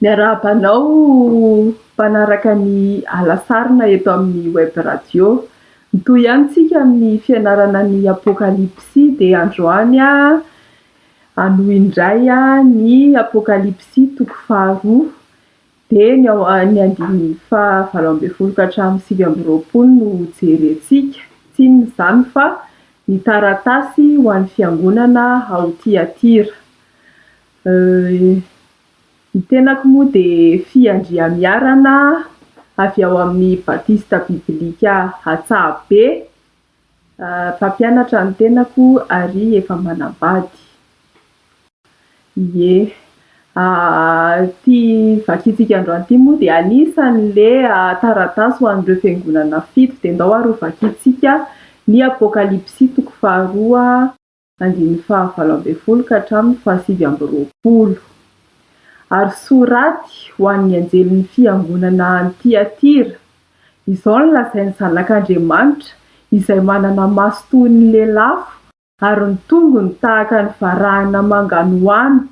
Miarahaba anao mpanaraka ny Alasarina eto amin'ny Web Radio. Mitohy ihany tsika amin'ny fianarana ny Apokalypsy dia androany aho hanohy indray ny Apokalypsy toko faharoa dia ny ao ny andininy faha valo ambin'ny folo ka hatramin'ny sivy amby roapolo no ho jerentsika. Tsy inona izany fa ny taratasy ho an'ny fiangonana ao Tiatira. Ny tenako moa dia fiandriamiarana avy ao amin'ny Batista Bibilika Antsahabe. Mpampianatra ny tenako ary efa manambady. Ie. Ity vakintsika androany ity moa dia anisan'ilay taratasy ho an'ireo fiangonana fito dia ndao ary ho vakintsika ny Apokalypsy toko faharoa. andininy fahavalo ambin'ny folo ka hatramin'ny fahasivy amby roapolo. Ary soraty ho an'ny anjelin'ny fiangonana any Tyatira, Izao no lazain'ny Zanak'Andriamanitra, izay manana maso toy ny lelafo ary ny tongony tahaka ny varahina manganohano,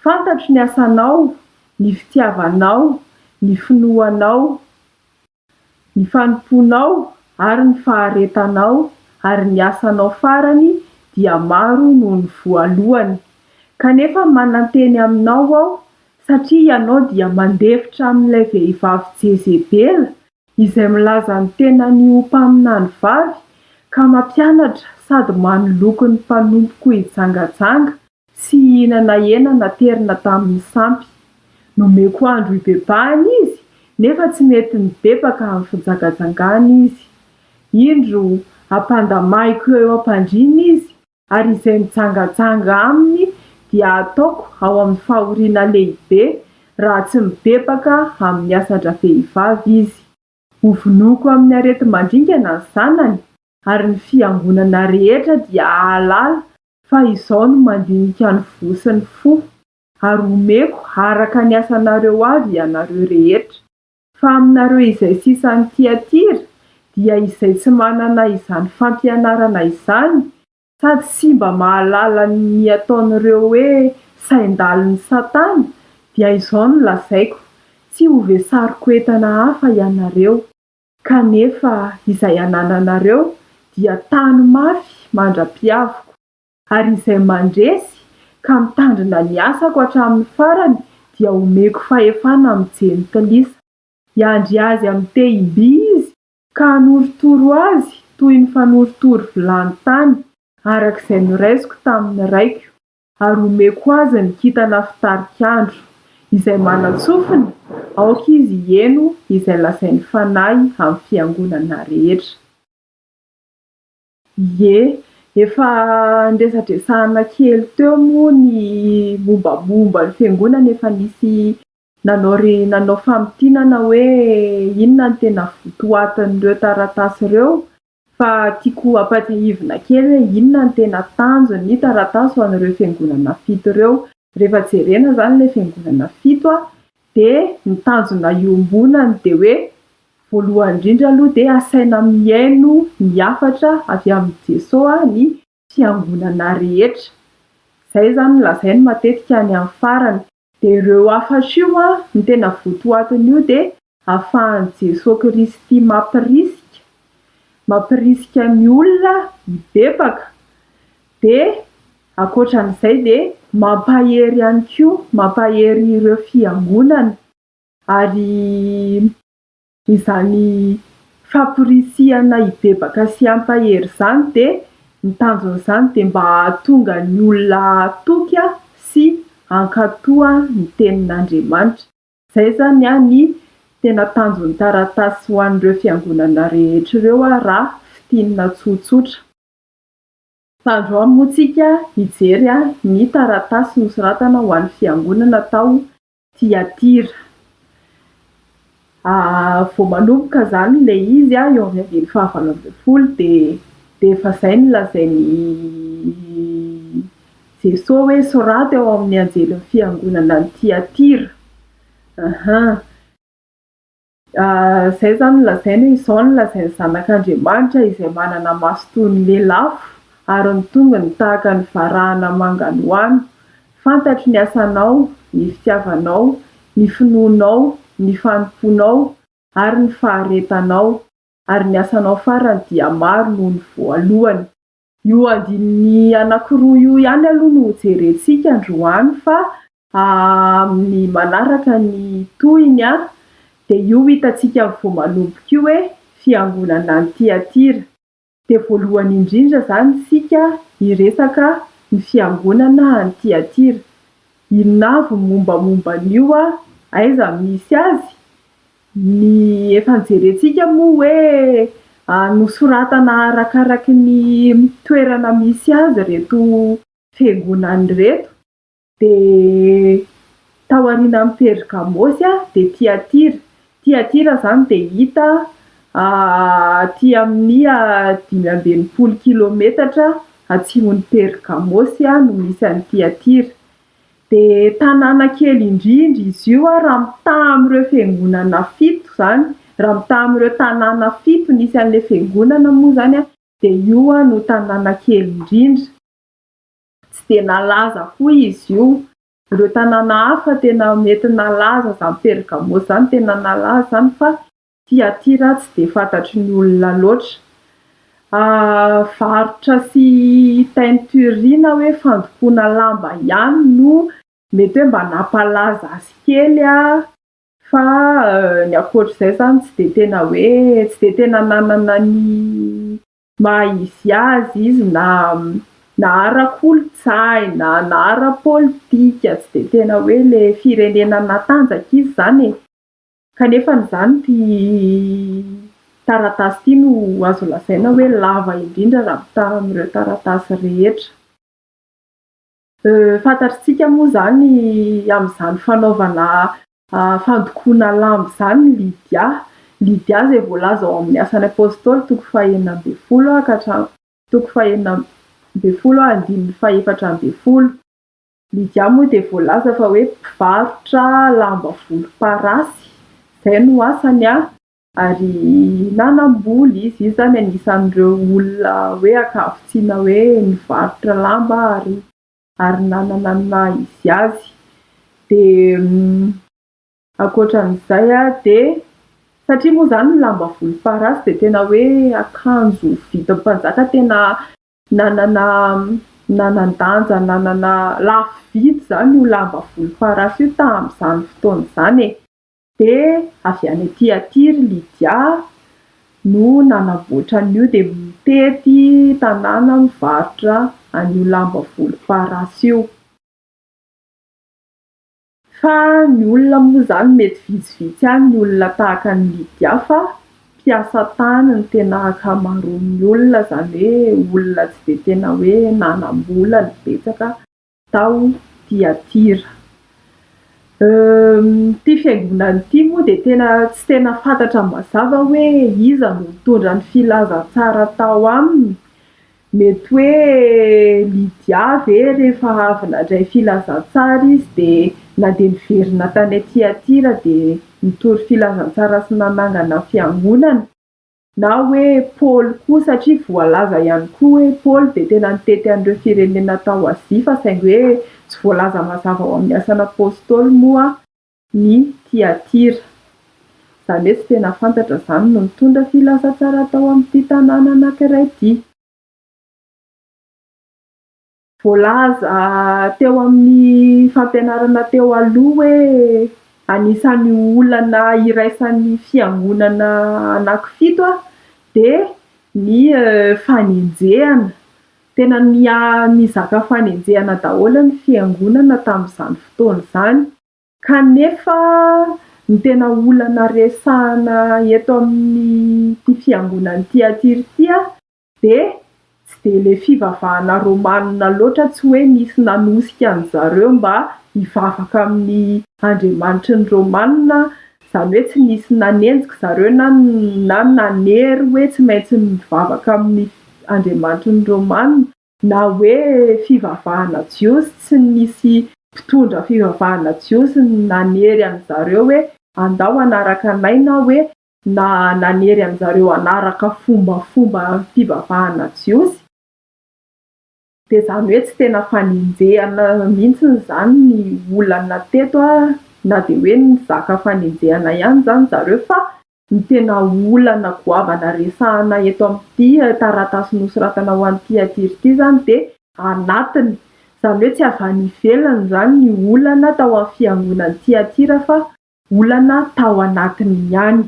Fantatro ny asanao, ny fitiavanao, ny finoanao, Ny fanompoanao ary ny faharetanao ary ny asanao farany dia maro noho ny voalohany. Kanefa mananteny aminao aho, satria ianao dia mandefitra amin'ilay vehivavy Jezebela, izay milaza ny tenany ho mpaminany vavy, ka mampianatra sady manoloky ny mpanompoko hijangajanga, Tsy hihinana hena naterina tamin'ny sampy. Nomeko andro hibebahana izy, nefa tsy nety nibebaka amin'ny fijangajangana izy. Indro, hampandamahiko eo am-pandriana izy, ary izay mijangajanga aminy dia hataoko ao amin'ny fahoriana lehibe, raha tsy mibebaka amin'ny asan-dravehivavy izy. Hovonoiko amin'ny areti-mandringana ny zanany, ary ny fiangonana rehetra dia hahalala fa izaho no mandinika ny voa sy ny fo, ary homeko araka ny asanareo avy ianareo rehetra. Fa aminareo izay sisa any Tyatira, dia izay tsy manana izany fampianarana izany, Sady tsy mba mahalala ny ataon'ireo hoe sain-dalin'i Satana, dia izao no lazaiko, Tsy hovesariko entana hafa ianareo, kanefa izay anananareo dia tano mafy mandra-piaviko, ary izay mandresy ka mitandrina ny asako hatramin'ny farany dia homeko fahefana amin'ny jentilisa, hiandry azy amin'ny tehim-by izy Ka hanorotoro azy toy ny fanorotoro vilany tany, araka izay noraisiko tamin' ny raiko, ary homeko azy ny kintana fitarik' andro, izay manan-tsofina, aoka izy hiheno izay lazain' ny Fanahy amin' ny fiangonana rehetra. Ie, efa niresadresahana kely teo moa ny mombamomba ny fiangonana efa nisy Nanao ry nanao famintinana hoe inona no tena votoatin'ireo taratasy ireo fa tiako hampatsiahivina kely hoe inona no tena tanjon'ny taratasy ho an'ireo fiangonana fito ireo. Rehefa jerena izany ilay fiangonana fito dia ny tanjona iombonany dia hoe voalohany indrindra aloha dia asaina mihaino ny hafatra avy amin'i Jesoa ny fiangonana rehetra. Izay izany no lazainy matetika any amin'ny farany. Dia ireo hafatra io an, ny tena votoatin'io dia ahafahan'i Jesoa Kristy mampirisika, mampirisika ny olona hibebaka, dia ankoatran'izay dia mampahery ihany koa, mampahery ireo fiangonana, ary. Izany famporisihana hibebaka sy hampahery izany dia ny tanjona izany dia mba hahatonga ny olona hahatoky sy hankatoa ny tenin'Andriamanitra. Izay izany ny tena tanjon'ny taratasy ho an'ireo fiangonana rehetra ireo raha fintinina tsotsotra. Tandroy moa isika hijery ny taratasy nosoratana ho an'ny fiangonana tao Tiatira. Vao manomboka izany ilay izy, eo amin'ny andininy fahavalo ambin'ny folo, dia dia efa izay no lazain'i Jesoa hoe soraty ao amin'ny anjelin'ny fiangonana any Tiatira. Izay izany nolazainy hoe, Izao no lazain'ny Zanak'Andriamanitra izay manana maso toy ny lelafo ary ny tongony tahaka ny varahana manganohano, Fantatro ny asanao, ny fitiavanao, ny finoanao, ny fanompoanao ary ny faharetanao, ary ny asanao farany dia maro noho ny voalohany. Io andininy anankiroa io ihany aloha no hojerentsika androany fa amin'ny manaraka ny tohiny dia io hitantsika vao manomboka io hoe fiangonana any Tyatira. Dia voalohany indrindra izany isika hiresaka ny fiangonana any Tyatira. Inona avy ny mombamomba an'io? Aiza misy azy? Ny efa nojerentsika moa hoe nosoratana arakaraky ny toerana misy azy ireto fiangonana ireto, dia tao aorianan'i Pergamosy dia Tiatira, Tiatira izany dia hita aty amin'ny dimy amby enimpolo kilometatra atsimon'i Pergamosy no misy an'i Tiatira, Dia tanàna kely indrindra izy io raha mitaha amin'ireo fiangonana fito izany, raha mitaha amin'ireo tanàna fito nisy an'ilay fiangonana moa izany dia io no tanàna kely indrindra. Tsy dia nalaza koa izy io. Ireo tanàna hafa tena mety nalaza izany Pergamos izany tena nalaza izany fa Ty aty ra tsy dia fantatry ny olona loatra. Varotra sy teinture na hoe fandokoana lamba ihany no mety hoe mba nampalaza azy kely an! Fa ny ankoatr'izay izany tsy dia tena hoe tsy dia tena nanana ny maha izy azy izy na na ara-kolontsaina na ara-politika tsy dia tena hoe ilay firenena natanjaka izy izany e! Kanefa izany ity taratasy ity no azo lazaina hoe lava indrindra raha mitaha amin'ireo taratasy rehetra. Fantatr'tsika moa izany amin'izany fanaovana fandokoana lamba izany ny Lydia. Lydia izay voalaza ao amin'ny Asan'ny Apostoly toko fahenina ambin'ny folo ka hatramin'ny toko fahenina ambin'ny folo andininy fahefatra ambin'ny folo. Lydia moa dia voalaza fa hoe mpivarotra lamba volomparasy, izay no asany a! Ary nanam-bola izy, izy izany anisan'ireo olona hoe ankavitsiana hoe nivarotra lamba ary ary nanana ny naha izy azy. Dia ankoatran'izay a, dia satria moa izany ny lamba volomparasy dia tena hoe akanjo vidim-panjaka tena. Nanana nanan-danja nanana lafo vidy izany io lamba volomparasy io tamin'izany fotoana izany e. Dia avy any aty aty ry Lydia no nanamboatra an'io dia mitety tanàna mivarotra an'io lamba volomparasy io. Fa ny olona moa izany mety vitsivitsy ihany ny olona tahaka an'i Lydia fa mpiasa tany ny tena ankamaroan'ny olona izany hoe olona tsy dia tena hoe nanam-bola no betsaka tao Tiatira. Ity fiangonana ity moa dia tena tsy tena fantatra mazava hoe iza no nitondra ny filazantsara tao aminy Mety hoe Lydia ve rehefa avy nandray filazantsara izy dia na dia niverina tany Tiatira dia nitory filazantsara sy nanangana fiangonana? Na hoe Paoly koa satria voalaza ihany koa hoe Paoly dia tena nitety an'ireo firenena tao Azia fa saingy hoe tsy voalaza mazava ao amin'ny Asan'Apostoly moa ny Tiatira. Izany hoe tsy tena fantatra izany no nitondra filaza tsara tao amin'ity tanàna anankiray ity. Voalaza teo amin'ny fampianarana teo aloha hoe anisan'ny olana iraisan'ny fiangonana anankifito dia ny fanenjehana. Tena nizaka fanenjehana daholo ny fiangonana tamin'izany fotoana izany. Kanefa ny tena olana resahana eto amin'ity fiangonana ity aty r'ty dia tsy dia ilay fivavahana romanina loatra tsy hoe nisy nanosika an-dry zareo mba hivavaka amin'ny andriamanitry ny romanina izany hoe tsy nisy nanenjika zareo na na nanery hoe tsy maintsy mivavaka amin'ny andriamanitry ny romanina na hoe fivavahana jiosy tsy nisy mpitondra fivavahana jiosy nanery an' zareo hoe andao hanaraka anay na hoe na nanery an' zareo hanaraka fombafomba fivavahana jiosy dia izany hoe tsy tena fanenjehana mihitsy izany ny olana teto na dia hoe nizaka fanenjehana ihany izany zareo fa Ny tena olana goavana resahana eto amin'ity taratasy nosoratana ho an'i Tiatira ity izany dia anatiny. Izany hoe tsy avy any ivelany izany ny olana tao amin'ny fiangonan'i Tiatira fa olana tao anatiny ihany.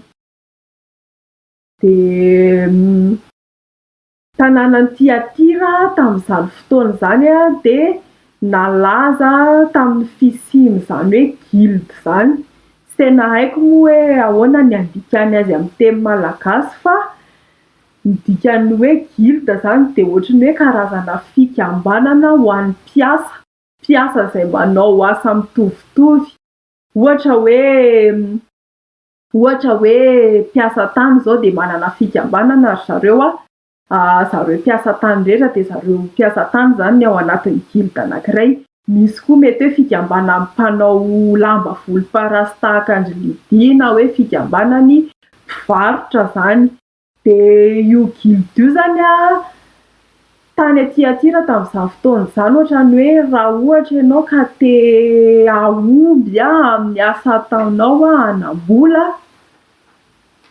Dia. Tanànan'i Tyatira tamin'izany fotoana izany dia nalaza tamin'ny fisian'izany hoe guilde izany. Tsy tena haiko moa hoe ahoana ny andikany azy amin'ny teny malagasy fa ny dikan'ny hoe guilde izany dia ohatry ny hoe karazana fikambanana ho an'ny mpiasa, mpiasa izay manao asa mitovitovy, ohatra hoe. Ohatra hoe mpiasa tany izao dia manana fikambanana ry zareo an, zareo mpiasa tany rehetra dia zareo mpiasa tany izany ny ao anatin'ny guilde anankiray. Misy koa mety hoe fikambanan'ny mpanao lamba volomparasy tahaka an-dry Lydie na hoe fikambanan'ny mpivarotra izany. Dia io Gilda io izany an, tany à Tiatira tamin'izany fotoana izany, ohatrany hoe raha ohatra ianao ka te hahomby amin'ny asa ataonao hanam-bola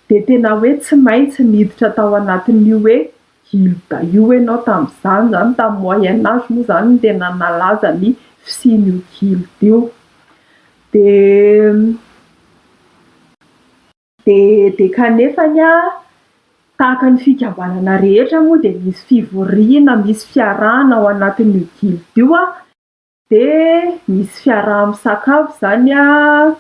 dia tena hoe tsy maintsy niditra tao anatin'io hoe Gilda io ianao tamin'izany izany, tamin'ny moyen age moa izany no tena nalaza ny fisian'io Gilda io. Dia. DD, Kanefa anie, tahaka ny fikambanana rehetra moa dia misy fivoriana, misy fiarahana ao anatin'io guilde io an, dia misy fiaraha-misakafo izany an,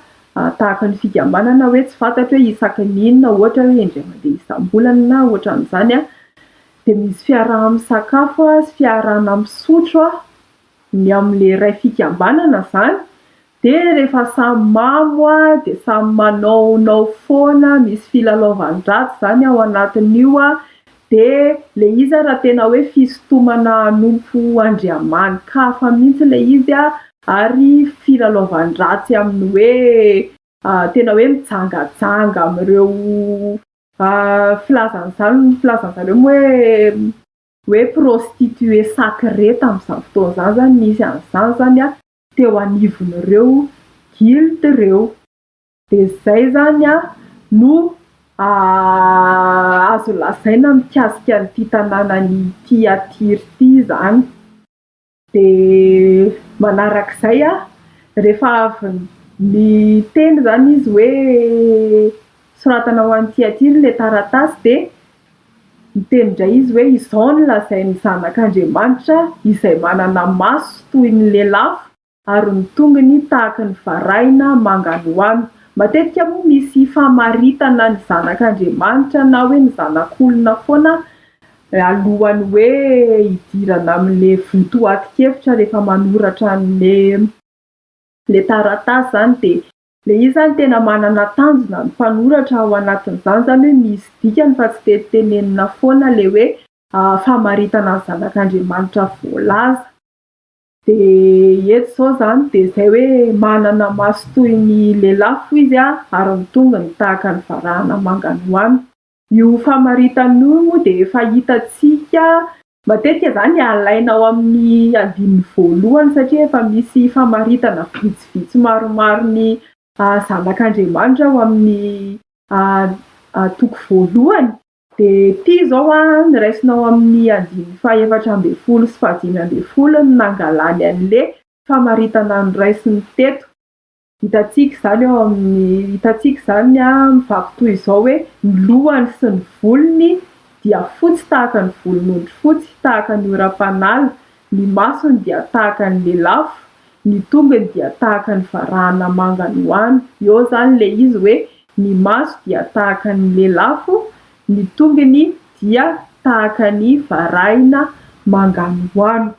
tahaka ny fikambanana hoe tsy fantatro hoe isaky ny inona ohatra hoe indray mandeha isam-bolana na ohatran'izany an, dia misy fiaraha-misakafo sy fiarahana misotro an, ny amin'ilay iray fikambanana izany Dia rehefa samy mamo a, dia samy manaonao foana, misy filalaovan-dratsy izany ao anatin'io a, dia ilay izy ary raha tena hoe fisintomana hanompo andriamani-kafa mihitsy ilay izy a, ary filalaovan-dratsy amin'ny hoe tena hoe mijangajanga amin'ireo filazana izany, ny filazana zareo moa hoe hoe prostituée sacrée tamin'izany fotoana izany izany, nisy an'izany izany a. teo anivon'ireo guild ireo. Dia izay izany no azo lazaina mikasika an'ity tanànan'ity Atiry ity izany. Dia manaraka izay, rehefa avy niteny izany izy hoe soratana ho an'ity Atiry ilay taratasy dia Niteny indray izy hoe, Izao no lazain'ny Zanak'Andriamanitra, izay manana maso toy ny lelafo ary ny tongony tahaka ny varahina manganohano. Matetika moa misy famaritana ny Zanak'Andriamanitra na hoe ny Zanak'olona foana alohan'ny hoe hidirana amin'ilay votoatin-kevitra rehefa manoratra an'ilay taratasy izany dia. Le izy zany tena manana tanjona ny mpanoratra ao anatin'izany zany hoe misy dikany fa tsy dia tenenina foana le hoe famaritana ny zanak'Andriamanitra voalaza. De eto izao zany de izay hoe manana maso toy ny lelafo izy ary ny tongony tahaka ny varahana manga noana. Io famaritana io moa dia efa hitantsika. Matetika izany alaina ao amin'ny andininy voalohany satria efa misy famaritana vitsivitsy maromaro ny zanak'Andriamanitra ao amin'ny toko voalohany. Dia ity izao an, raisina ao amin'ny andininy fahefatra ambin'ny folo sy fahadimy ambin'ny folo no nangalany an'ilay famaritana noraisin'ny teto. Hitantsika izany ao amin'ny hitantsika izany mivako toy izao hoe, Ny lohany sy ny volony dia fotsy tahaka ny volon'ondry fotsy, tahaka ny oram-panala, ny masony dia tahaka ny lelafo, ny tongony dia tahaka ny varahana manga noana. Eo izany ilay izy hoe, Ny maso dia tahaka ny lelafo, ny tongony dia tahaka ny varahina manga noana.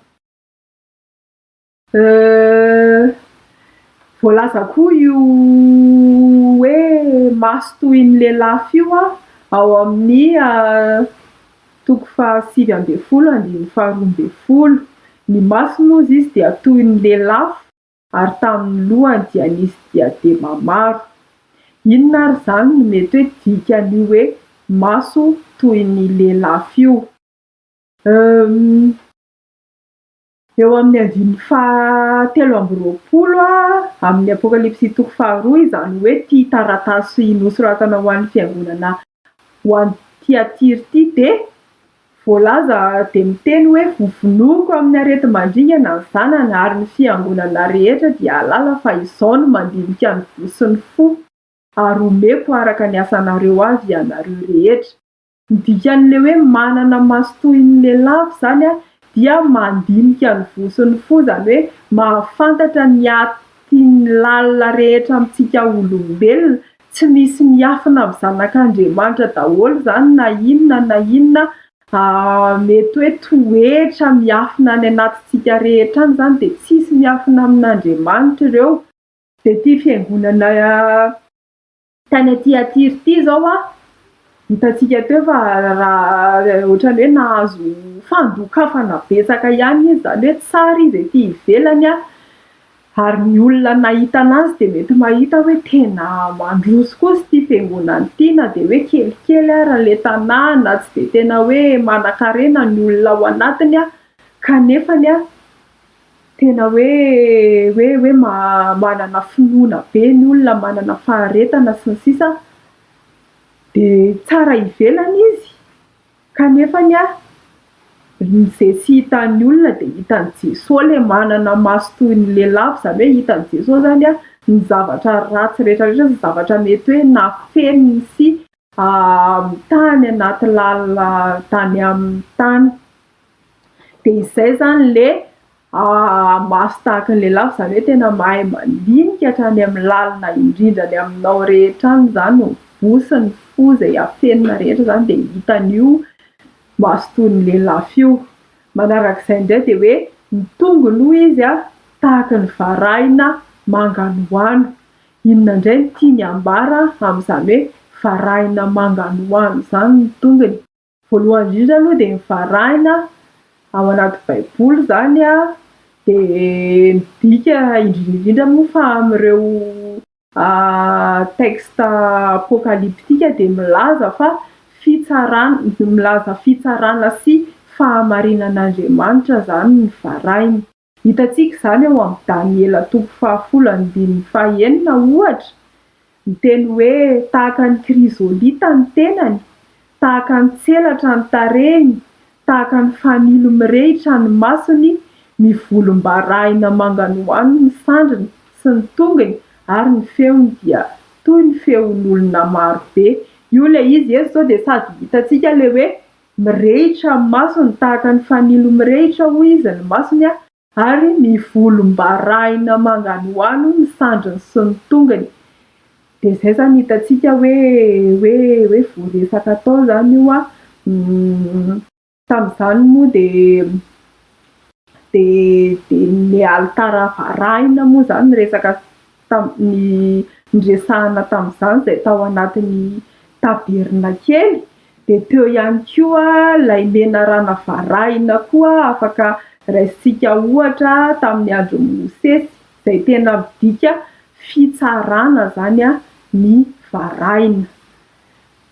Euh. Voalaza koa io hoe maso toy ny lelafo io ao amin'ny toko fahasivy ambin'ny folo andininy faharoa ambin'ny folo. Ny masony hozy izy dia toy ny lelafo ary tamin'ny lohany dia nisy diadema maro. Inona ary izany no mety hoe dikan'io hoe maso toy ny lelafo io? Euh. Eo amin'ny andininy fahatelo amby roapolo amin'ny Apokalypsy toko faharoa izany hoe ity taratasy nosoratana ho an'ny fiangonana ho any Tyatira ity dia voalaza dia miteny hoe Vovonoiko amin'ny areti-mandringana ny zanany ary ny fiangonana rehetra dia hahalala fa izao no mandinika ny voa sy ny fo ary homeko araka ny asanareo avy ianareo rehetra. Ny dikan'ilay hoe manana maso toy ny lelafo izany dia mandinika ny voa sy ny fo, izany hoe mahafantatra ny atin'ny lalina rehetra amintsika olombelona, tsy misy miafina amin'ny zanak'Andriamanitra daholo izany na inona na inona mety hoe toetra miafina any anatintsika rehetra any izany dia tsisy miafina amin'Andriamanitra ireo. Dia ity fiangonana Tany aty Atiry ity izao aho, hitantsika teo fa raha ohatran'ny hoe nahazo fandokafana betsaka ihany izy, izany hoe tsara izy ety ivelany ary ny olona nahita an'azy dia mety mahita hoe tena mandroso kosa ity fiangonana ity na dia hoe kelikely ary ilay tanàna na tsy dia tena hoe manankarena ny olona ao anatiny kanefa ny Tena hoe hoe hoe manana finoana be ny olona, manana faharetana sy ny sisa, dia tsara ivelany izy kanefa ny ahy izay tsy hitan'ny olona dia hitan'i Jesoa ilay manana maso toy ny lelafo, izany hoe hitan'i Jesoa izany ny zavatra ratsy rehetra rehetra sy ny zavatra mety hoe nafeniny sy. amin'ny tany anaty lalina tany amin'ny tany dia izay izany ilay maso tahaka ny lehilahy fa izany hoe tena mahay mandinika hatrany amin'ny lalina indrindra any aminao rehetra any izany ny voa sy ny fo izay afenina rehetra izany dia hitan'io maso toy ny lelafo io, manaraka izay indray dia hoe ny tongony hoy izy an tahaka ny varahina manganohano, Inona indray no tiany hambara amin'izany hoe varahina manganohano izany ny tongony? Voalohany indrindra aloha dia ny varahina ao anaty baiboly izany dia midika indrindra indrindra moa fa amin'ireo texte apokaliptika dia milaza fa fitsarana, milaza fitsarana sy fahamarinan'Andriamanitra izany ny varahina. Hitantsika izany ao amin'ny Daniela toko fahafolo andininy fahenina, ohatra, ny teny hoe tahaka ny krizolita ny tenany, tahaka ny tselatra ny tarehiny, tahaka ny fanilo mirehitra ny masony, mivolombarahina manganohano ny sandriny sy ny tongony ary ny feony dia toy ny feon'olona marobe. Io ilay izy eto izao dia sady hitantsika ilay hoe Mirehitra amin'ny masony tahaka ny fanilo mirehitra, hoy izy, ny masony, ary mivolombarahina manganohano ny sandriny sy ny tongony. Dia izay izany hitantsika hoe hoe hoe voaresaka tao izany io an, tamin'izany moa dia dia dia nialy tara varahina moa izany ny resaka. tamin'ny niresahana tamin'izany izay tao anatin'ny tabernakely, dia teo ihany koa ilay menarana varahina koa afaka raisintsika ohatra tamin'ny andron'i Mosesy, izay tena midika fitsarana izany ny varahina.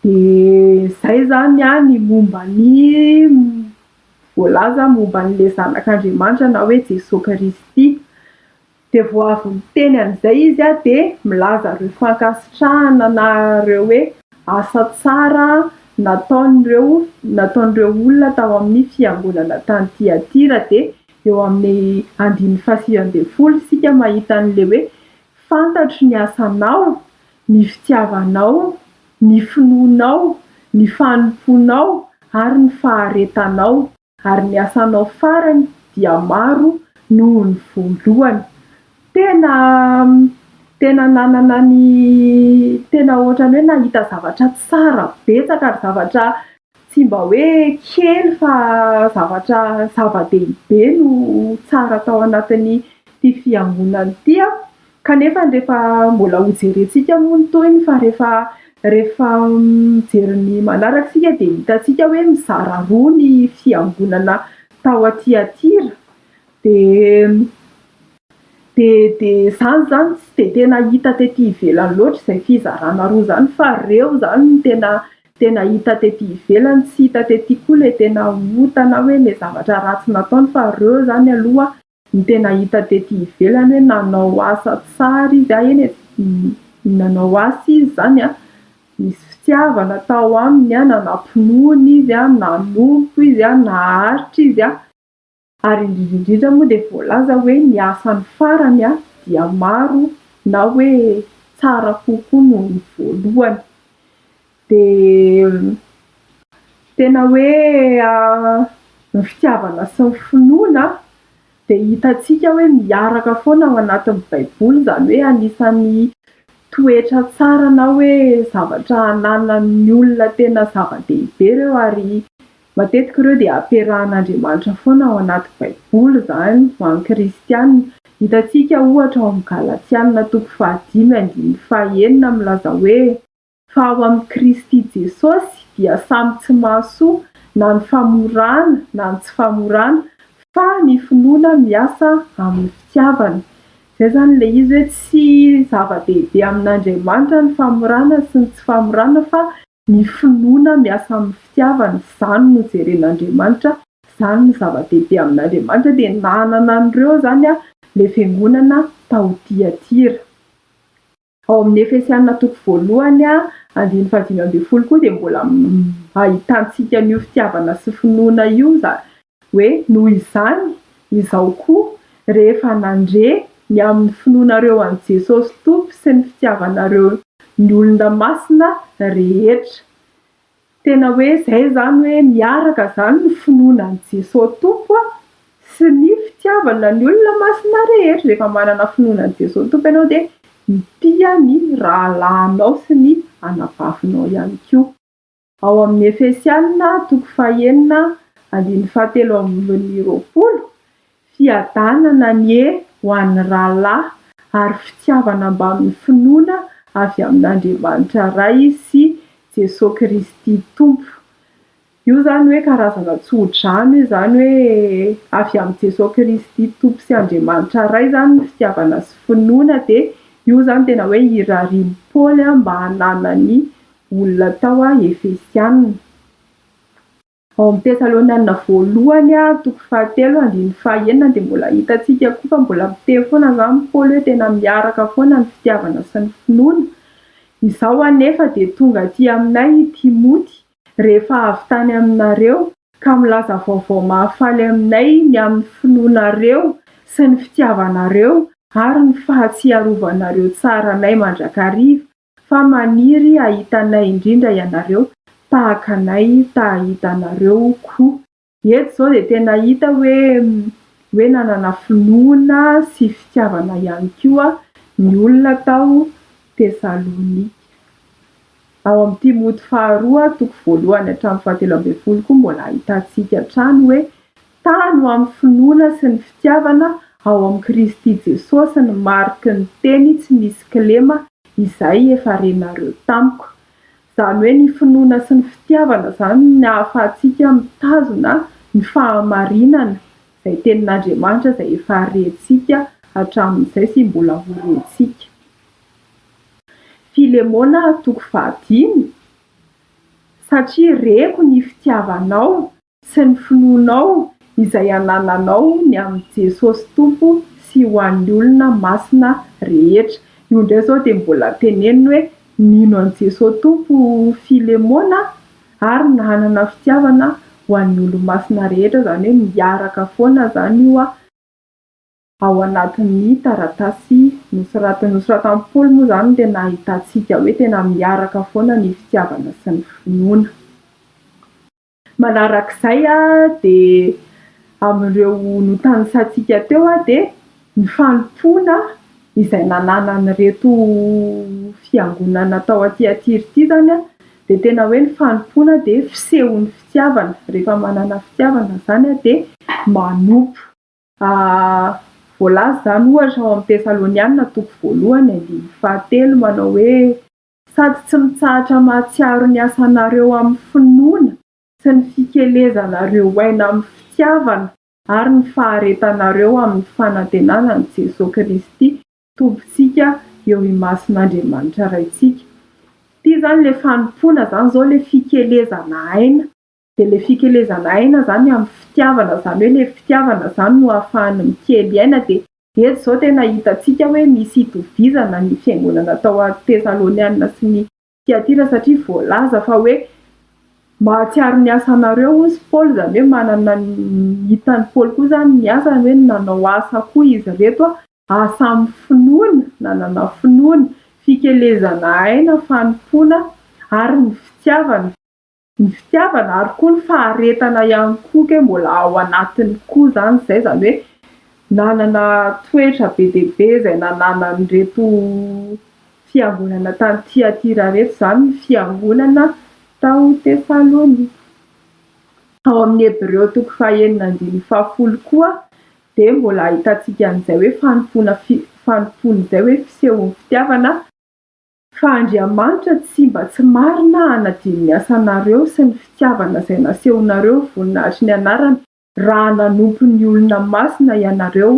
Dia izay izany ny momba ny voalaza momba an'ilay Zanak'Andriamanitra na hoe Jesoa Kristy. Dia vao avy miteny an'izay izy dia milaza ireo fankasitrahana na ireo hoe asa tsara nataon'ireo nataon'ireo olona tao amin'ny fiangonana tany Tyatira. Dia eo amin'ny andininy fahasivy ambin'ny folo isika mahita an'ilay hoe fantatro ny asanao, ny fitiavanao, ny finoanao, ny fanompoanao ary ny faharetanao. ary ny asanao farany dia maro noho ny voalohany. Tena tena nanana ny tena ohatrany hoe nahita zavatra tsara betsaka ary zavatra tsy mba hoe kely fa zavatra zava-dehibe no tsara tao anatin'ity fiangonana ity aho Kanefa rehefa mbola hojerentsika moa ny tohiny fa rehefa rehefa mijery ny manaraka isika dia hitantsika hoe mizara roa ny fiangonana tao Tiatira dia dia dia izany izany tsy dia tena hita tety ivelany loatra izay fizarana roa izany fa ireo izany no tena tena hita tety ivelany, tsy hita tety koa ilay tena ota na hoe ilay zavatra ratsy nataony fa ireo izany aloha Ny tena hita tety ivelany hoe nanao asa tsara izy ahy anie ny nanao asa izy izany an, nisy fitiavana tao aminy an, nanam-pinoana izy an, nanompo izy an, naharitra izy an. Ary indrindra indrindra moa dia voalaza hoe ny asany farany an dia maro na hoe tsara kokoa noho ny voalohany. Dia tena hoe ny fitiavana sy ny finoana dia hitantsika hoe miaraka foana ao anatin'ny baiboly, izany hoe anisan'ny toetra tsara na hoe zavatra ananan'ny olona tena zava-dehibe ireo ary matetika ireo dia ampiarahan'Andriamanitra foana ao anaty baiboly izany ho an'ny kristiana, hitantsika ohatra ao amin'ny galatsianina toko faha dimy andininy faha enina milaza hoe. fa ao amin'i Kristy Jesosy dia samy tsy mahasoa na ny famorana na ny tsy famorana fa ny finoana miasa amin'ny fitiavana. Izay izany ilay izy hoe tsy zava-dehibe amin'Andriamanitra ny famorana sy ny tsy famorana fa ny finoana miasa amin'ny fitiavana, izany no jeren'Andriamanitra, izany no zava-dehibe amin'Andriamanitra. Dia nanana an'ireo izany ilay fiangonana tao Tyatira. Ao amin'ny Efesiana toko voalohany andininy fahadimy ambin'ny folo koa dia mbola ahitantsika an'io fitiavana sy finoana io izany hoe noho izany izaho koa rehefa nandre ny amin'ny finoanareo an'i Jesosy Tompo sy ny fitiavanareo ny olona masina rehetra Tena hoe izay izany hoe miaraka izany ny finoana an'i Jesoa Tompo sy ny fitiavana ny olona masina rehetra. Rehefa manana finoana an'i Jesoa Tompo ianao dia mitia ny rahalahinao sy ny anabavinao ihany koa. Ao amin'ny Efesiana, toko fahenina, andininy fahatelo ambin'ny roapolo, Fiadanana anie ho an'ny rahalahy ary fitiavana mbamin'ny finoana avy amin'Andriamanitra Ray sy Jesoa Kristy Tompo. Io izany hoe karazana tsodrano izany hoe avy amin'i Jesoa Kristy Tompo sy Andriamanitra Ray izany ny fitiavana sy finoana dia io izany tena hoe irarian'i Paoly mba hananan'ny olona tao Efesiana. Ao amin'ny Tesalonianina voalohany toko fahatelo andininy fahaenina dia mbola hitantsika koa fa mbola miteny foana izany i Paoly hoe tena miaraka foana ny fitiavana sy ny finoana. Izao anefa dia tonga aty aminay i Timoty rehefa avy tany aminareo ka milaza vaovao mahafaly aminay ny amin'ny finoanareo sy ny fitiavanareo ary ny fahatsiarovanareo tsara anay mandrakariva Fa maniry hahita anay indrindra ianareo, tahaka anay ta hahita anareo koa. Eto izao dia tena hita hoe hoe nanana finoana sy fitiavana ihany koa ny olona tao Tesalonika. Ao amin'ny Timoty faharoa, toko voalohany hatramin'ny fahatelo ambin'ny folo koa mbola ahitantsika hatrany hoe Tano ho amin'ny finoana sy ny fitiavana ao amin'i Kristy Jesosy ny mariky ny Teny tsy misy kilema izay efa renareo tamiko. Izany hoe ny finoana sy ny fitiavana izany no ahafahantsika mitazona ny fahamarinana izay Tenin'Andriamanitra izay efa rentsika hatramin'izay sy mbola ho rentsika. Filemona toko fahadimy, Satria reko ny fitiavanao. sy ny finoanao izay anananao ny amin'i Jesosy Tompo sy ho an'ny olona masina rehetra. Io indray izao dia mbola teneniny hoe, Nino an'i Jesosy Tompo Filemona ary nanana fitiavana ho an'ny olo-masina rehetra, izany hoe miaraka foana izany io ao anatin'ny taratasy nosoratiny. Nosoratan'i Paoly moa izany dia nahitantsika hoe tena miaraka foana ny fitiavana sy ny finoana. Manarak'izay dia amin'ireo notanisantsika teo dia ny fanompoana izay nananan'ireto fiangonana tao Antiatiry ity izany dia tena hoe ny fanompoana dia fisehon'ny fitiavana, rehefa manana fitiavana izany dia manompo. Voalaza izany ohatra ao amin'ny Tesalonianina toko voalohany andininy fahatelo manao hoe. Sady tsy mitsahatra mahatsiaro ny asanareo amin'ny finoana sy ny fikelezanareo aina amin'ny fitiavana ary ny faharetanareo amin'ny fanantenana an'i Jesoa Kristy Tompontsika eo imason'Andriamanitra Raintsika. Ity izany ilay fanompoana izany izao ilay fikelezana aina. dia ilay fikelezana aina izany amin'ny fitiavana izany hoe ilay fitiavana izany no ahafahany mikely aina dia eto izao tena hitantsika hoe misy itovizana ny fiangonana tao a Tesaloniana sy ny Tiatira satria voalaza fa hoe mahatsiaro ny asanareo hozy Paoly izany hoe manana ny hitan'i Paoly koa izany ny asany hoe nanao asa koa izy ireto a asa amin'ny finoana nanana finoana fikelezana aina fanompoana ary ny fitiavana ny fitiavana ary koa ny faharetana ihany koa ke mbola ao anatiny koa zany izay zany hoe nanana toetra be dia be izay nananan'ireto fiangonana tany Tyatira ireto izany ny fiangonana tao Tesalonika ao amin'ny Hebreo toko fahenina andininy fahafolo koa dia mbola ahitantsika an'izay hoe fanompoana fanompoana izay hoe fisehon'ny fitiavana Fa Andriamanitra tsy mba tsy marina hanadino ny asanareo sy ny fitiavana izay nasehonareo voninahitry ny anarany raha nanompo ny olona masina ianareo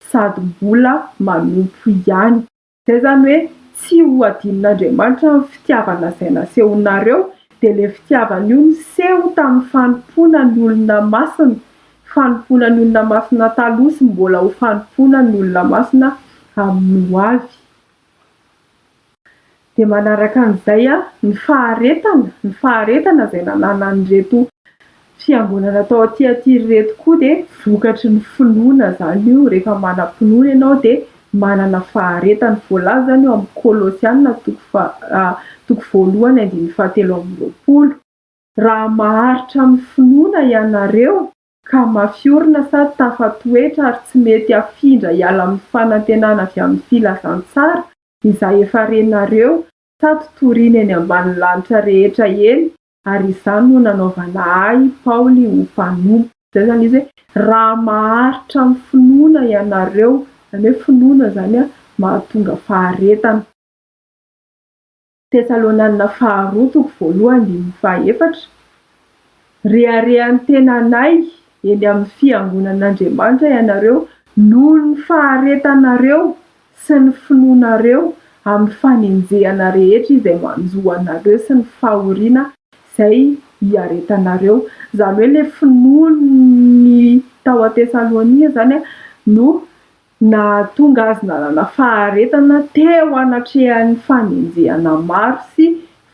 sady mbola manompo ihany. Izay izany hoe tsy ho adinon'Andriamanitra ny fitiavana izay nasehonareo, dia ilay fitiavana io niseho tamin'ny fanompoana ny olona masina, fanompoana ny olona masina taloha sy mbola ho fanompoana ny olona masina amin'ny hoavy. Dia manaraka an'izay ny faharetana, ny faharetana izay nananan'ireto fiangonana tao Tiatira ireto koa dia vokatry ny finoana izany io, rehefa manam-pinoana ianao dia manana faharetana. Voalaza izany eo amin'ny Kolosiana toko faha, toko voalohany andininy fahatelo amby roapolo. Raha maharitra amin'ny finoana ianareo. ka mafy orina sa tafatoetra ary tsy mety afindra hiala amin'ny fanantenana avy amin'ny filazantsara izay efa renareo sa totorina eny ambanin'ny lanitra rehetra eny ary izany no nanaovana ahy Paoly ho mpanompo. Izay izany izy hoe raha maharitra amin'ny finoana ianareo, izany hoe finoana izany mahatonga faharetana. Tesalônanina Faharoa toko voalohany andininy fahaefatra, Reharehan'ny tenanay eny amin'ny fiangonan'Andriamanitra ianareo noho ny faharetanareo sy ny finoanareo amin'ny fanenjehana rehetra izay manjo anareo sy ny fahoriana izay iaretanareo. Izany hoe ilay finoany tao Tesalônika izany no Nahatonga azy nanana faharetana teo anatrehan'ny fanenjehana maro sy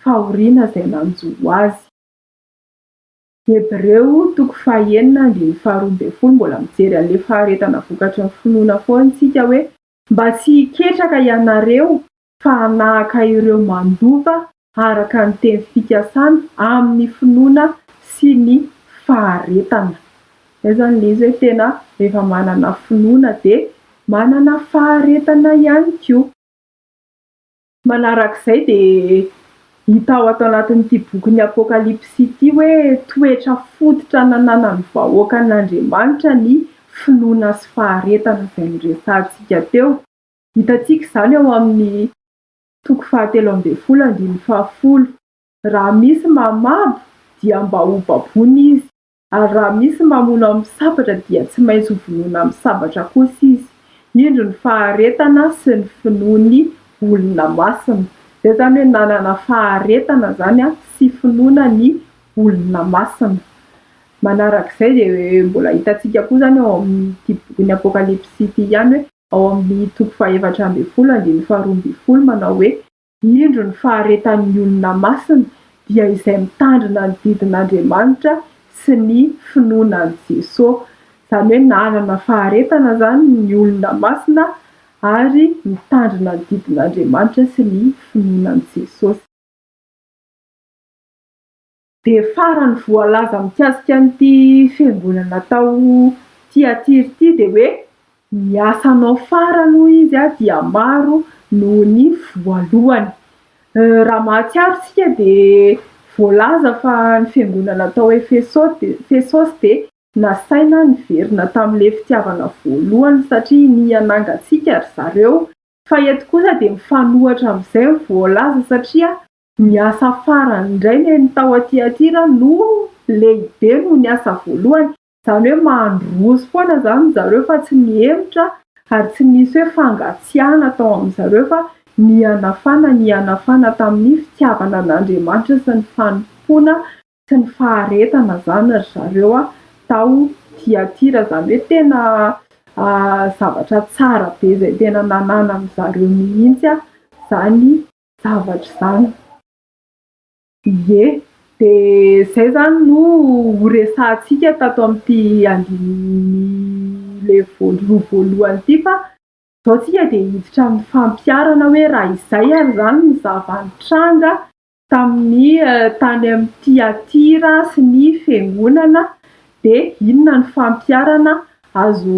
fahoriana izay nanjo azy. Hebreo toko fahenina andininy faharoa ambin'ny folo Mbola mijery an'ilay faharetana vokatry ny finoana foana isika hoe. Mba tsy hiketraka ianareo fa hanahaka ireo mandova araka ny teny fikasana amin'ny finoana sy ny faharetana. Izay izany ilay izy hoe tena rehefa manana finoana dia manana faharetana ihany koa. Manaraka izay dia hita ao ato anatin'ity bokin'ny Apokalypsy ity hoe toetra fototra nananan'ny vahoakan'Andriamanitra ny finoana sy faharetana izay noresahantsika teo. Hitantsika izany ao amin'ny toko fahatelo ambin'ny folo andininy fahafolo. Raha misy mamabo dia mba ho baboina izy, ary raha misy mamono amin'ny sabatra dia tsy maintsy ho vonoina amin'ny sabatra kosa izy. Indro ny faharetana sy ny finoan'ny olona masina. Izay izany hoe nanana faharetana izany sy finoana ny olona masina. Manarak'izay dia mbola hitantsika koa izany ao amin'ity bokin'ny Apokalypsy ity ihany hoe ao amin'ny toko fahefatra ambin'ny folo andininy faharoa ambin'ny folo manao hoe. Indro ny faharetan'ny olona masina dia izay mitandrina ny didin'Andriamanitra sy ny finoana an'i Jesoa. Izany hoe nanana faharetana izany ny olona masina ary mitandrina ny didin'Andriamanitra sy ny finoana an'i Jesosy. Dia farany voalaza mikasika an'ity fiangonana tao Tiatira ity dia hoe ny asanao farany hoy izy dia maro noho ny voalohany. Raha mahatsiaro isika dia voalaza fa ny fiangonana tao Efesosy dia nasaina niverina tamin'ilay fitiavana voalohany satria niha nangatsiaka ry zareo. Fa eto kosa dia mifanohitra amin'izay ny voalaza satria Ny asa farany indray neny tao Tiatira no lehibe noho ny asa voalohany, izany hoe mandroso foana izany ry zareo fa tsy nihemotra ary tsy nisy hoe fangatsiahana tao amin-dry zareo fa nihanafana, nihanafana tamin'ny fitiavana an'Andriamanitra sy ny fanompoana sy ny faharetana izany ry zareo tao Tiatira, izany hoe tena zavatra tsara be izay tena nananan'ny zareo mihitsy izany. zavatra izany. Ie, dia izay izany no horesahantsika tato amin'ity andininy ilay voaloha voalohany ity fa izao isika dia hiditra amin'ny fampiharana hoe raha izay ary izany ny zava-nitranga tamin'ny tany amin'i Tyatira sy ny fiangonana dia inona ny fampiharana azo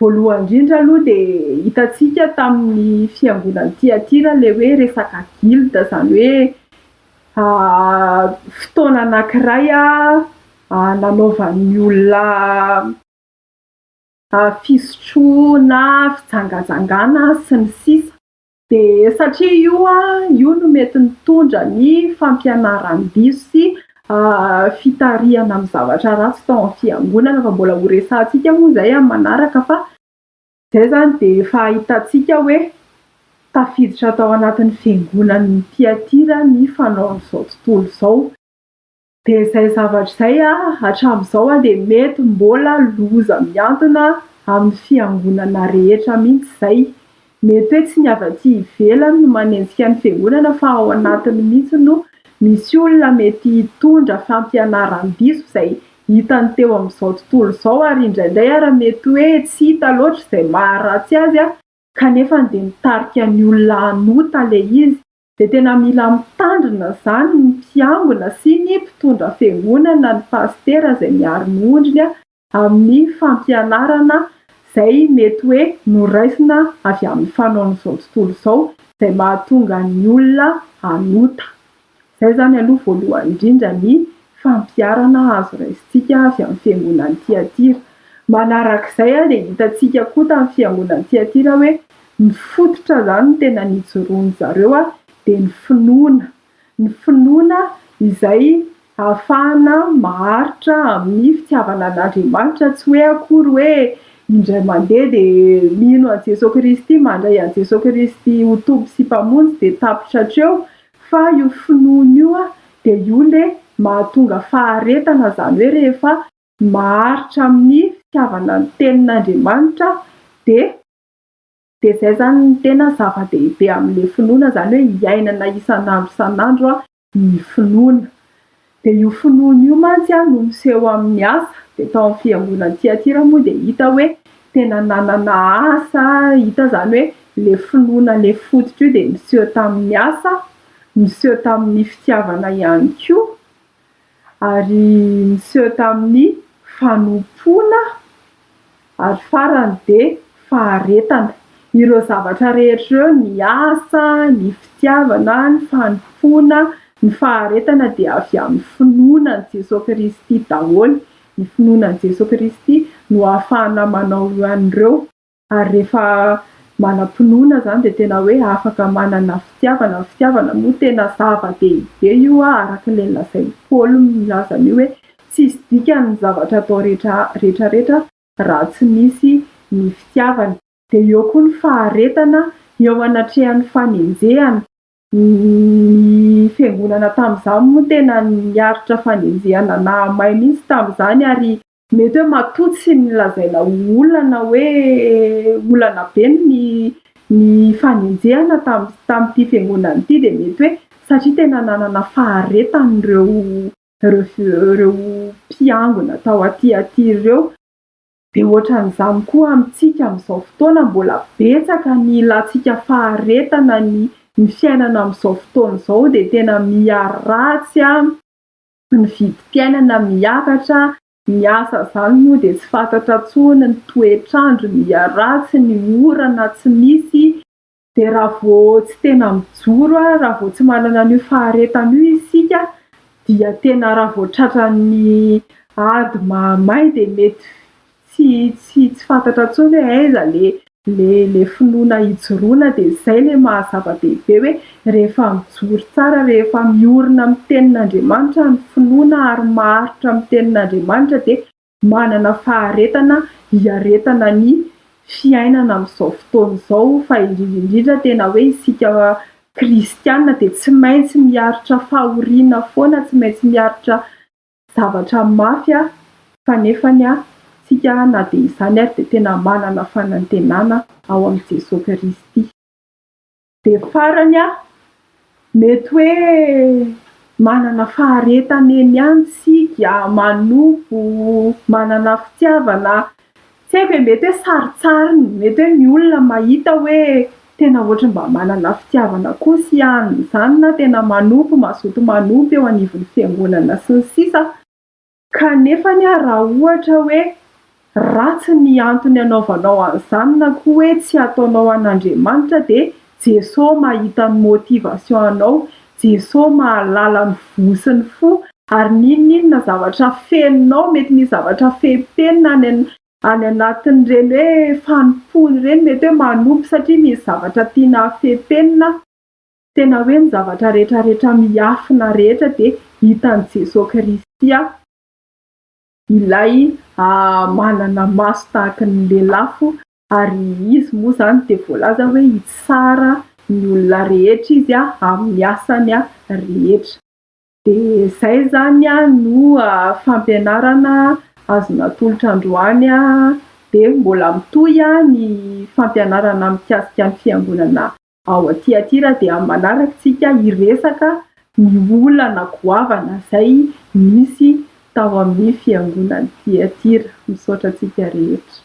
Voalohany indrindra aloha dia hitantsika tamin'ny fiangonan'i Tyatira ilay hoe resaka guild, izany hoe fotoana anankiray nanaovan'ny olona fisotroana, fijangajangana sy ny sisa. Dia satria io io no mety nitondra ny fampianaram-diso sy fitarihana amin'ny zavatra ratsy tao amin'ny fiangonana fa mbola ho resahantsika moa izay amin'ny manaraka fa izay izany dia efa ahitantsika hoe tafiditra tao anatin'ny fiangonan'ny Tiatira ny fanaon'izao tontolo izao. Dia izay zavatra izay hatramin'izao dia mety mbola loza mihantona amin'ny fiangonana rehetra mihitsy izay. Mety hoe tsy ny avy aty ivelany no manenjika ny fiangonana fa ao anatiny mihitsy no misy olona mety hitondra fampianaran-diso izay hitany teo amin'izao tontolo izao ary indraindray ary mety hoe tsy hita loatra izay maharatsy azy kanefa dia mitarika ny olona hanota ilay izy. dia tena mila mitandrina izany ny mpiangona sy ny mpitondra fiangonana ny pasitera izay miaro ny ondriny amin'ny fampianarana izay mety hoe noraisina avy amin'ny fanaon'izao tontolo izao izay mahatonga ny olona hanota. Izay izany aloha voalohany indrindra ny fampiarana azo raisintsika avy amin'ny fiangonan'i Tiatira. Manarak'izay dia hitantsika koa tamin'ny fiangonan'i Tiatira hoe Ny fototra izany tena nijoroan-dry zareo dia ny finoana, ny finoana izay ahafahana maharitra amin'ny fitiavana an'Andriamanitra, tsy hoe akory hoe indray mandeha dia mino an'i Jesoa Kristy, mandray an'i Jesoa Kristy ho Tompo sy Mpamonjy dia tapitra hatreo, fa io finoana io dia io ilay mahatonga faharetana, izany hoe rehefa maharitra amin'ny fitiavana ny Tenin'Andriamanitra dia. Dia izay izany no tena zava-dehibe amin'ilay finoana izany hoe iainana isan'andro isan'andro ny finoana. Dia io finoana io mantsy no miseho amin'ny asa. Dia tao amin'ny fiangonan'i Tyatira moa dia hita hoe tena nanana asa, hita izany hoe ilay finoana ilay fototra io dia niseho tamin'ny asa, niseho tamin'ny fitiavana ihany koa. ary niseho tamin'ny fanompoana ary farany dia faharetana. Ireo zavatra rehetra ireo, ny asa, ny fitiavana, ny fanompoana, ny faharetana dia avy amin'ny finoana an'i Jesoa Kristy daholo. Ny finoana an'i Jesoa Kristy no ahafahana manao an'ireo. ary rehefa manam-pinoana izany dia tena hoe afaka manana fitiavana, ny fitiavana moa tena zava-dehibe io a, araka ilay nolazain'i Paoly milaza an'io hoe tsy hisy dikany ny zavatra atao rehetra rehetra raha tsy misy ny fitiavana, dia eo koa ny faharetana eo anatrehan'ny fanenjehana, Ny fiangonana tamin'izany moa tena niaritra fanenjehana nahamay mihitsy tamin'izany ary mety hoe matoa tsy nolazaina ho olana hoe olana be ny ny fanenjehana tamin'ny tamin'ity fiangonana ity dia mety hoe satria tena nanana faharetana ireo ireo ireo mpiangona tao aty aty ireo. Dia ohatran'izany koa amintsika amin'izao fotoana, mbola betsaka ny ilantsika faharetana, ny ny fiainana amin'izao fotoana izao dia tena miha ratsy, ny vidim-piainana miakatra, ny asa izany moa dia tsy fantatra intsony, ny toetr'andro miha ratsy, ny orana tsy misy. Dia raha vao tsy tena mijoro, raha vao tsy manana an'io faharetana io isika dia tena raha vao tratran'ny ady mahamay dia mety tsy tsy tsy fantatra intsony hoe aiza le le le finoana hijoroana dia izay le maha zava-dehibe hoe rehefa mijoro tsara rehefa miorina amin'ny tenin'Andriamanitra ny finoana ary maharitra amin'ny tenin'Andriamanitra dia Manana faharetana hiaretana ny fiainana amin'izao fotoana izao fa indrindra indrindra tena hoe isika kristiana dia tsy maintsy miaritra fahoriana foana, tsy maintsy miaritra zavatra mafy fa nefany isika na dia izany ary dia tena manana fanantenana ao amin'i Jesoa Kristy. Dia farany aho, mety hoe manana faharetana eny ihany isika, manompo, manana fitiavana, tsy haiko e, mety hoe sarintsariny, mety hoe ny olona mahita hoe tena ohatry ny mba manana fitiavana koa sy hianona izany na tena manompo, mazoto manompo eo anivon'ny fiangonana sy ny sisa. Kanefa anie raha ohatra hoe ratsy ny antony anaovanao an'izany na koa hoe tsy hataonao an'Andriamanitra dia Jeso mahita ny motivation anao, Jeso mahalala ny voa sy ny fo ary n'inon'inona zavatra fenonao, mety misy zavatra fehim-penina any any anatin'ireny hoe fanompoana ireny mety hoe manopy satria misy zavatra tiana hafepenina. Tena hoe ny zavatra rehetra rehetra miafina rehetra dia hitan'i Jesoa Kristy aho. Ilay manana maso tahaka ny lelafo ary Izy moa izany dia voalaza hoe hitsara ny olona rehetra Izy amin'ny asany rehetra. Dia izay izany no fampianarana azo natolotra androany. Dia mbola mitohy ny fampianarana mikasika ny Fiangonana ao Tiatira. Dia amin'ny manaraka isika hiresaka ny olana goavana izay nisy tao amin'ny Fiangonan'i Tiatira. Misaotra antsika rehetra.